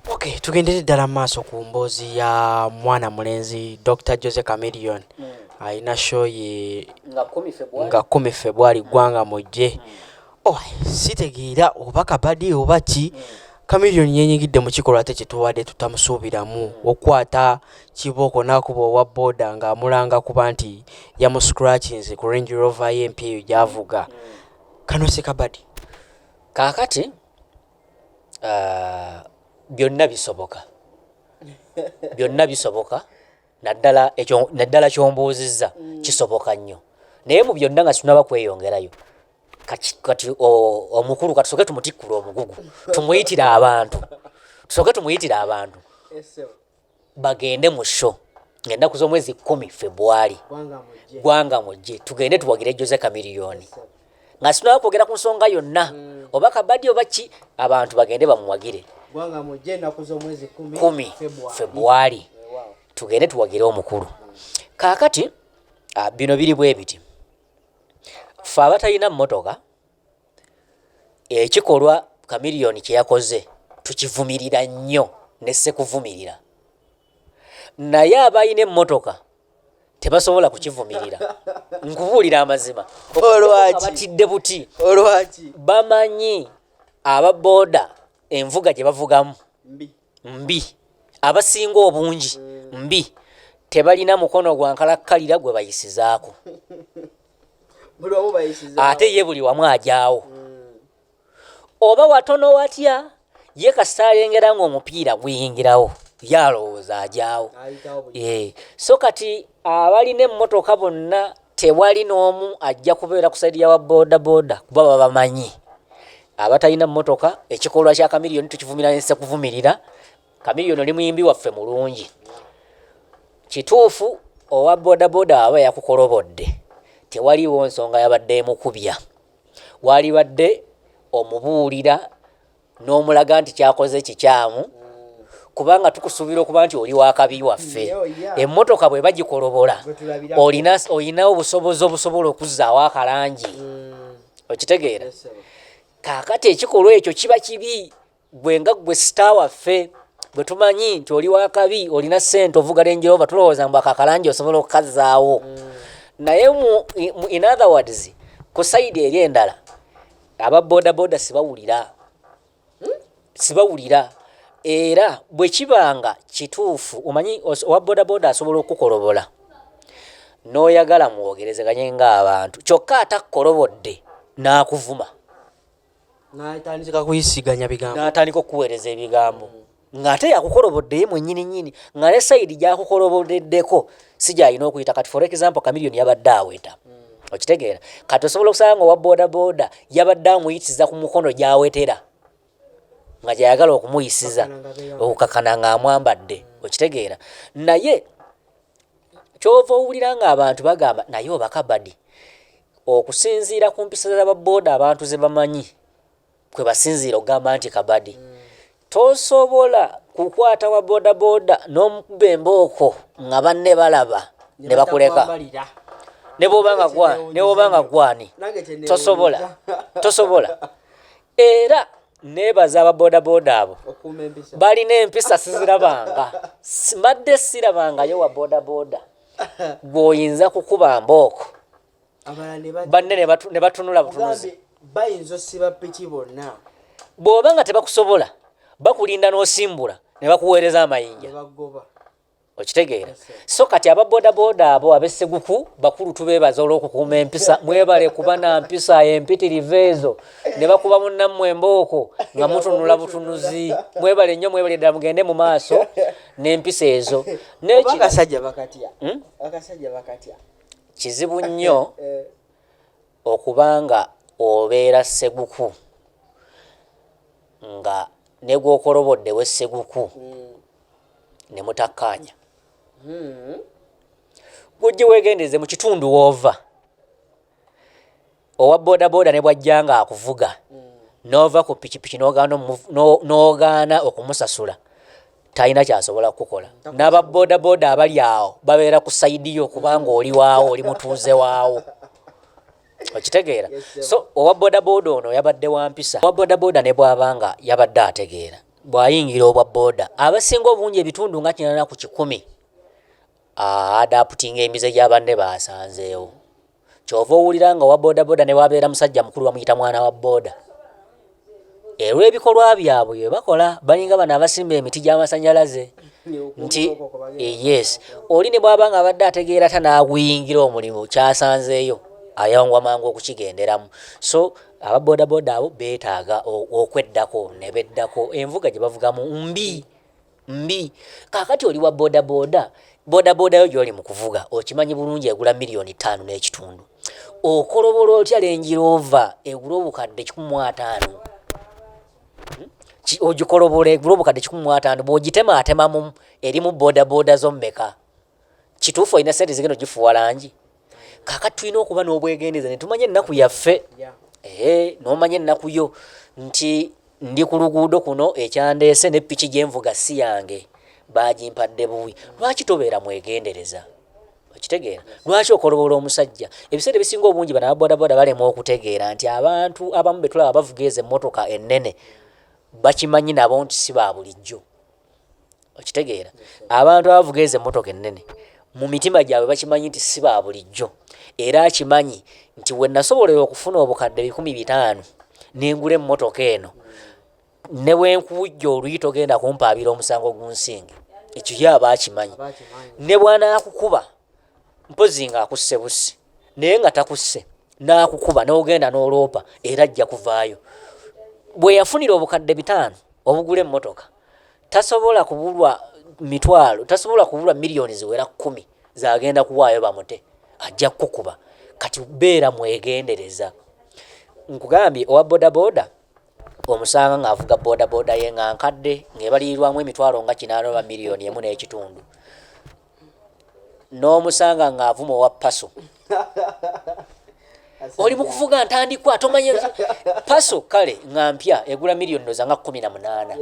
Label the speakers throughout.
Speaker 1: Okay,
Speaker 2: tugendere ddala mu maaso ku mboozi ya mwana mulenzi Dr. Jose Chameleone mm. alina show ye nga kumi February ggwanga mujje mm. oh, sitegeera oba kabadi oba ki mm. Chameleone yenyigidde mu kikolwa ate kyetuwadde tutamusuubiramu mm. okwata kibooko n'akuba owa boda ng'amulanga kuba nti yamuscratchings ku Range Rover ye empya eyo gyavuga mm. kano si kabadi kaakati
Speaker 1: ah, byonna bisoboka byonna bisoboka naddala ekyo naddala kyombuuzizza mm. kisoboka nnyo naye mu byonna nga sinaba kweyongerayo kati omukulu kati soke tumutikkula omugugu tumuyitire abantu soke tumuyitire abantu bagende mu show ngaennaku z'omwezi kumi febwali gwanga mujje tugende tuwagire jose kamiliyoni nga sinawa kwogera ku nsonga yonna mm. oba kabadi oba ki abantu bagende bamuwagire
Speaker 2: kumi
Speaker 1: febwali tugende tuwagire omukulu kaakati ah, bino biri bwe biti fe abatalina mmotoka Ekikolwa Chameleone kye yakoze tukivumirira nnyo ne ssekuvumirira naye abalina emmotoka tebasobola kukivumirira nkubuulira amazima batidde buti bamanyi aba booda envuga gye bavugamu mbi abasinga obungi mbi tebalina mukono gwa nkalakkalira gwe bayisizaako ate ye buli wamu ajaawo oba watono watya ye kasita alengera ng'omupiira guyingirawo yalowooza ajaawo so kati abalina emmotoka bonna tewali n'omu ajja kubeera ku saidi yawa bodaboda kuba babamanyi abatalina mmotoka ekikolwa kya kamiliyoni tukivumira nse kuvumirira kamiliyoni oli muyimbi waffe mulungi kituufu owa bodaboda aba yakukolobodde tewaliwo nsonga yabadde emukubya waalibadde omubuulira n'omulaga nti kyakoze kikyamu kubanga tukusuubira okuba nti oli wakabi waffe emmotoka bwe bagikolobola olina obusobozi obusobola okuzzaawo akalangi mm. okitegeera kaakati ekikolwa ekyo kiba kibi gwe nga gwe sita waffe bwe tumanyi nti oli wakabi olina ssente ovuga lenjeroba tulowooza mbu akakalangi osobola okukazzaawo mm. naye mu in other words ku sayidi eri endala aba boda boda sibawulira hmm? sibawulira era bwe kibanga kituufu omanyi owa boda boda asobola okukolobola n'oyagala mwogerezeganye ng'abantu kyokka atakkolobodde n'akuvuma n'atandika okukuweereza ebigambo ng'ate yakukolobodde ye mwenyini nyini nga ne sayidi gyakukolobodeddeko si gyalina okuyita kati for example kamiliyoni yabadde aweta hmm. okitegeera kati osobola okusanga nga owa bodaboda yabadde amuyitiza ku mukono gyawetera nga gyayagala okumuyisiza okukakana ng'amwambadde okitegeera naye kyova owulira ng'abantu bagamba naye obakabadi okusinziira ku mpisa za baboda abantu ze bamanyi kwe basinziira okugamba nti kabadi tosobola kukwata wa bodaboda n'omukuba embooko nga banne balaba ne bakuleka ne bwoba nga gwani tosobola tosobola era nebaza aba bodaboda abo balina empisa sizirabanga mbadde sirabangayo wa bodaboda gweoyinza kukuba mbooko banne ne batunula butunuzi bayinza osiba
Speaker 2: piki bonna bw'oba nga
Speaker 1: tebakusobola bakulinda n'osimbula ne bakuweereza amayinja okitegeera so kati aba bodaboda abo abesseguku bakulu tubeebaza olw'okukuuma empisa mwebale kuba na mpisa empitirivu ezo ne bakuba munnammwe embooko nga mutunula butunuzi mwebale nnyo mwebale ddala mugende mu maaso n'empisa ezo nekirasajja bakatya
Speaker 2: hmm? Kizibu
Speaker 1: nnyo okuba nga obeera sseguku nga ne gw'okolobodde we sseguku ne mutakkaanya. Ggwe ojje weegendereze mu kitundu w'ova. owa bodaboda ne bwajja nga akuvuga n'ova ku pikipiki n'ogaana okumusasula talina kyasobola kukukola n'aba bodaboda abali awo babeera ku sayidi yo kubanga oli waawo oli mutuuze waawo okitegeera so owa bodaboda ono yabadde wa mpisa owa bodaboda ne bwaba nga yabadde ategeera bw'ayingira obwa boda abasinga obungi ebitundu nga kinana ku kikumi adaputinga emize gya banne baasanzeewo kyova owulira nga owa bodaboda newabeera musajja mukulu bamuyita mwana wa boda olw'ebikolwa byabwe byebakola balinga bano abasimba emiti gy'amasanyalaze nti eh, yes oli ne bwaba nga abadde ategeera ta n'aguyingira omulimu kyasanzeeyo ayawangwa mangu okukigenderamu so aba bodaboda abo beetaaga okweddako ne beddako envuga gye bavugamu mbi mbi kakati oli wa boda boda boda boda yo gyoli mu kuvuga okimanyi bulungi egula miliyoni ttaano n'ekitundu okolobola otya lengiroova egula obukadde kikumi mu ataano hmm? ogikolobola egula obukadde kikumi mu ataano bw'ogitema atemamu erimu boda boda zo mmeka kituufu olina sente zigenda ogifuwa langi kakati tulina okuba n'obwegendeza ne tumanya ennaku yaffe ee n'omanya ennaku yo nti ndi ku luguudo kuno ekyandeese ne piki gye nvuga si yange baagimpadde buwi lwaki tobeera mwegendereza okitegeera lwaki okolobola omusajja ebiseera ebisinga obungi bana babodaboda balemwa okutegeera nti abantu abamu betulaba bavuga ezo emmotoka ennene bakimanyi nabo nti si ba bulijjo okitegeera abantu abavuga ezo emmotoka ennene mu mitima gyabwe bakimanyi nti si ba bulijjo era akimanyi nti we nasobolera okufuna obukadde bikumi bitaano nengula emmotoka eno ne bwe nkuwujja oluyi togenda kumpaabira omusango gunsinge ekyo ye aba akimanyi ne bw'anaakukuba mpozi nga akusse busi naye nga takusse n'akukuba n'ogenda n'oloopa era ajja kuvaayo bwe yafunira obukadde bitaano obugula emmotoka tasobola kubulwa mitwalo tasobola kubulwa miliyoni ziwera kkumi zagenda kuwaayo bamute ajja kukukuba kati beera mwegendereza nkugambye owa bodaboda omusanga ng'avuga bodaboda ye nga nkadde ng'ebalirirwamu emitwalo nga kinaanoba miliyoni emu n'ekitundu n'omusanga ng'avuma owa paso oli mu kuvuga ntandikwa tomanya paso kale nga mpya egula miliyoni noza nga kumi na munaana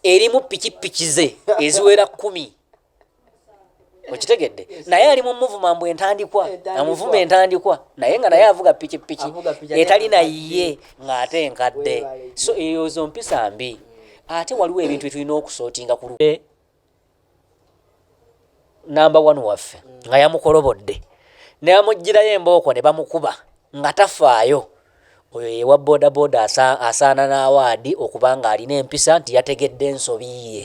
Speaker 1: erimu pikipiki ze eziwera kumi okitegedde naye ali mu muvuma mbu entandikwa amuvuma entandikwa naye nga naye avuga pikipiki etali naye ng'ate enkadde so eyo zo mpisa mbi ate waliwo ebintu byetulina okusootinga ku namba one waffe nga yamukolobodde neamugirayo embooko ne bamukuba nga tafaayo oyo yewa bodaboda asaana n'awaadi okuba nga alina empisa nti yategedde ensobi ye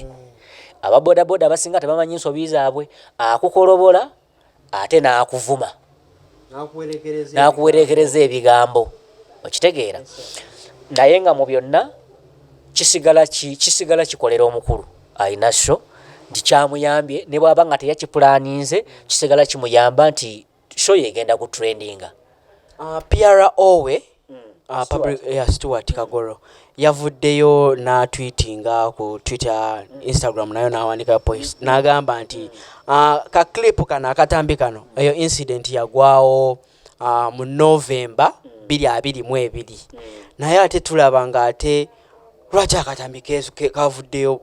Speaker 1: aba bodaboda abasinga tebamanyi nsobi zaabwe akukolobola ate n'akuvuma n'akuwereekereza ebigambo okitegeera naye nga mu byonna kisigala kisigala kikolera omukulu alina so nti kyamuyambye ne bwaba nga teyakipulaninze kisigala kimuyamba nti so yegenda ku trendinga appeara
Speaker 2: owe uh, Uh, public, yeah, Stuart Kagoro yavuddeyo n'atwitinga ku Twitter, Instagram nayo n'awandika post n'agamba nti uh, ka clip kano akatambi kano eyo incident yagwawo uh, mu November biri abiri mu ebiri naye ate tulaba nga ate lwaki akatambi keesu kavuddeyo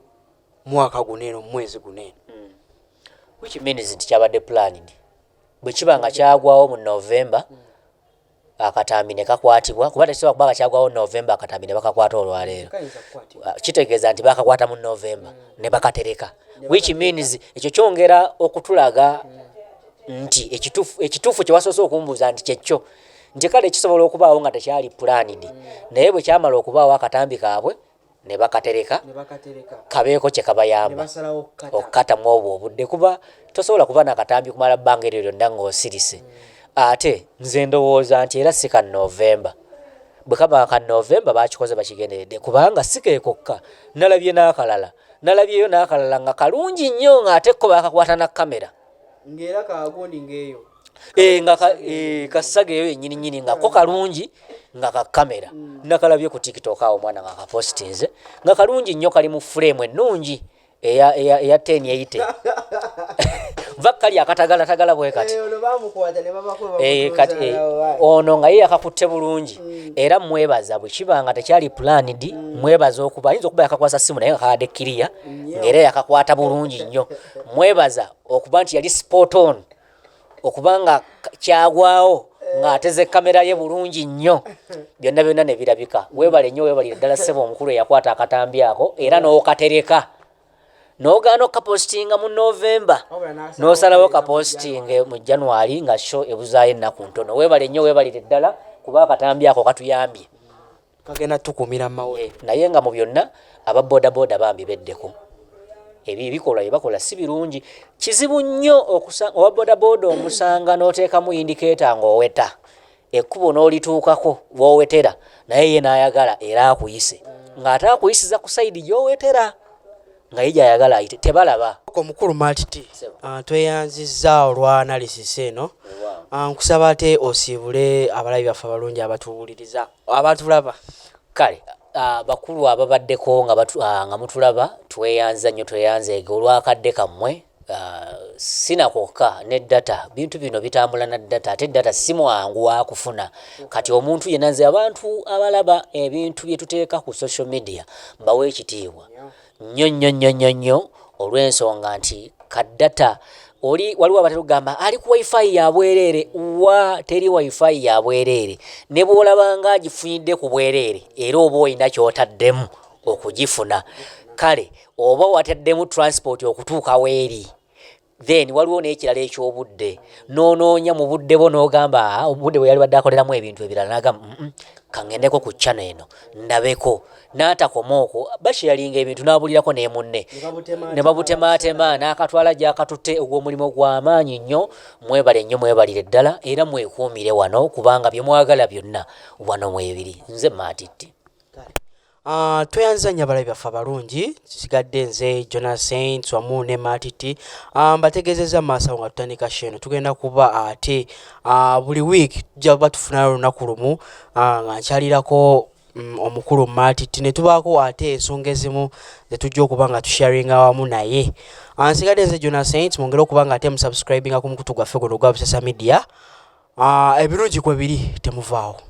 Speaker 2: mwaka guno eno mu mwezi guno eno hmm.
Speaker 1: which means nti kyabadde planned bwe kiba nga kyagwawo mu November mm. akatambi ne kakwatibwa kuba tekisobola kuba nga kyagwawo novemba akatambi ne bakakwata olwaleero ah, kitegeeza nti bakakwata mu novemba mm. ne bakatereka which means ekyo kyongera okutulaga mm. nti ekituufu kye wasoose okumbuuza nti kyekyo nti kale kisobola okubaawo nga tekyali pulanidi mm. naye bwe kyamala okubaawo akatambi kaabwe ne bakatereka kabeeko kye kabayamba okukata mu obwo obudde kuba tosobola kuba nakatambi kumala bbanga eryo lyonna ng'osirise mm. ate nze ndowooza nti era si ka novemba bwe kaba ka novemba bakikoze bakigenderedde kubanga si keekokka nalabye n'akalala nalabyeyo n'akalala nga kalungi nnyo ng'ate ko bakakwata na kamera ng'era
Speaker 2: kagundi ng'eyo eh, nga
Speaker 1: eh, kasaga eyo yenyini nyini nga ko kalungi nga ka kamera mm. nakalabye ku tiktok awo mwana nga kapostinze nga kalungi nnyo kali mu frame ennungi eya eya eya 10 eyite vakali akatagala tagala bwe kati eh, ono bamukwata ne babakuba eh kati eh, ono nga yeye akakutte bulungi mm. era mwebaza bwe kibanga tekyali plan di mm. mwebaza okuba yinzo kuba yakakwasa simu naye akade kiriya ngere yakakwata bulungi nnyo mwebaza okuba nti yali spot on okuba nga kyagwawo ng'ateze kamera ye bulungi nnyo byonna byonna ne birabika weebale nnyo weebalire ddala ssebo omukulu eyakwata akatambi ako era n'okatereka n'ogaana okukapositinga mu novemba n'osalawo kapositinge mu january nga sho ebuzaayo ennaku ntono weebale nnyo weebalire ddala kuba akatambi ako katuyambye bagenda
Speaker 2: tukumira mawo eh, naye nga mu byonna
Speaker 1: aba bodaboda bambi beddeko ebyo ebikolwa byebakola si birungi kizibu nnyo owa bodaboda omusanga n'oteekamu indikeeta ng'oweta ekkubo n'olituukako w'owetera naye ye n'ayagala era akuyise ng'ate akuyisiza ku sayidi gy'owetera nga ye gy'ayagala ayite tebalaba omukulu maltiti
Speaker 2: ah, tweyanzizza olwa analysis eno ah, nkusaba ate osiibule abalabi baffe abalungi abatuwuliriza abatulaba kale
Speaker 1: ah, bakulu ababaddeko nga batu- ah, nga mutulaba tweyanza nnyo tweyanzeege olwakadde kammwe Ah, si na kwokka ne data bintu bino bitambula na data ate data si mwangu wakufuna kati omuntu yenna nze abantu abalaba ebintu bye tuteeka ku social media mbawa ekitiibwa nnyo nnyo nnyo nnyo nnyo olw'ensonga nti kaddata oli waliwo abatera okugamba ali ku wifi ya bwereere wa teri wifi ya bwereere ne bw'olaba nga agifunidde ku bwereere era oba olina ky'otaddemu okugifuna kale oba wataddemu transport okutuuka weeri then waliwo n'ekirala eky'obudde n'onoonya mu budde bwo n'ogamba ah, obudde bwe yali badde akoleramu ebintu ebirala n'agamba kaŋŋendeko ku ccana eno ndabeko n'atakoma okwo bashiyalinga ebintu n'abulirako ne munne ne babutemaatema n'akatwala gy'akatutte ogw'omulimu gw'amaanyi nnyo mwebale nnyo mwebalire ddala era mwekuumire wano kubanga bye mwagala byonna wano mwebiri nze maatitti Uh,
Speaker 2: tweyanziza nnyo abalabi baffe abalungi kisigadde nze jona saints wamu ne matiti uh, ah, mbategeezezza maaso awo nga tutandika sheeno tugenda kuba ate uh, buli week tujja kuba tufunayo olunaku lumu uh, nga nkyalirako Mm, omukulu matiti ne tubaako ate ensonga ezimu ze tujja okuba nga tusharinga wamu naye ansigadde ah, nze jona saint mwongere okuba nga ate musubscribinga ku mukutu gwaffe guno ogwa busesa media ah, ebirungi kwe biri temuvaawo